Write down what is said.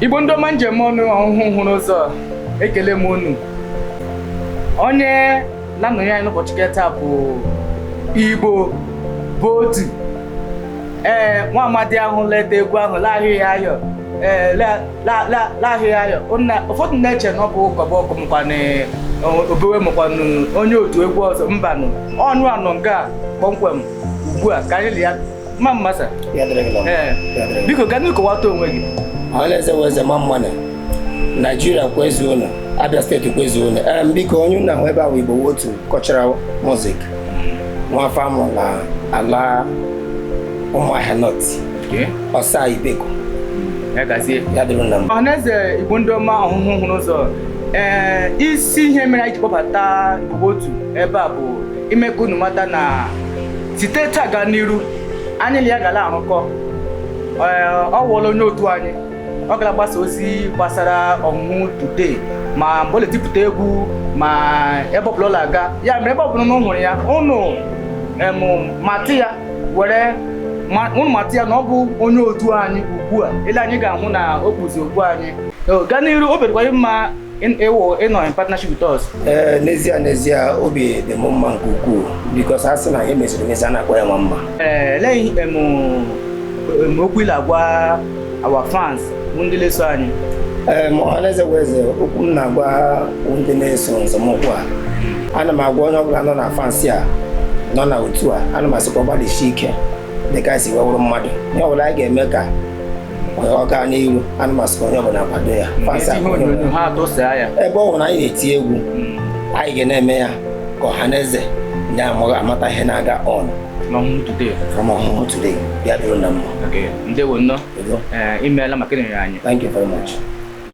igbo ndị ọma m ji eme ọnụ ọhụhụ hụrụ ụzọ ekele m unu onye na-anọnye anyị n'ụbọchị nke taa bụ igbo bụ otu ee nwa amadi ahụ la-eti egwu ahụ laahịghị ayọ ee laahịghị ayọ ụfọdụ na-eche na ọ bụ ụkọba ọkụ mkwanụ obewe mụkwanụ onye otu egwu ọzọ mbanụ onye ahụ nọ nga kpọmkwem ugbu a ka anyị li ya mma mma sa Ya dịrị gị na mma. ee Ya dịrị gị. biko gaa n'iru kọwata onwe gị Ọhaneze bụ eze mma mma nụ Naijiria kwezuo nụ Abia steeti kwezuo nụ ee biko onye unu na-ahụ ebe a wụ Igbo wụ otu cultural music nwaafọ a mụ na ala ụmụahịa North ọsa ibeku ya gazie ya dịrị na mma ọhaneze igbo ndị ọma ọhụhụ hụrụ ụzọ ee isi ihe mere anyị ji kpọbata igbo otu ebe a bụ ime ka unu mata na site taa gaa n'iru anyị na ya ga na-arụkọ ọ wụọla onye otu anyị ọ ga na-agbasa ozi gbasara ọhụhụ today ma mgbe ọ na-etipụta egwu ma ebe ọbụla ọ na-aga ya mere ebe ọbụla unu hụrụ ya unu matị ya were unu matị ya na ọ bụ onye otu anyị ugbu a ele anya ị ga-ahụ na o kpuzi okpu anyị gaa n'iru obi dịkwa mma ịnọ in partnership with us. ee n'ezie n'ezie obi dị m mma nke ukwuu because a sị na ihe e meziri emezi a na-akpọ ya nwa mma elee okwu ị la-agwa our fans bụ ndị na-eso anyị ee ma ọhaneze bụ eze okwu m na-agwa ndị na-eso nzọmụkwụ a ana m agwa onye ọbụla nọ na fans a nọ na otu a ana m asịkwa gbalịsie ike dịka e si wee wụrụ mmadụ ihe ọbụla anyị ga-eme ka ọ gaa n'iru ana m asị ka onye ọbụla kwado ya Fans a ka onye ọbụla- ha atụsaa ya ebe ọ bụla anyị na-eti egwu anyị ga na-eme ya ka ọha na eze ndị amaghị amata ihe na-aga on ọhụhụ today from ọhụhụ today ya dịrị na mma okay ndewo nnọọ Udo. ee imeela maka ịnọnyere anyị Thank you very much.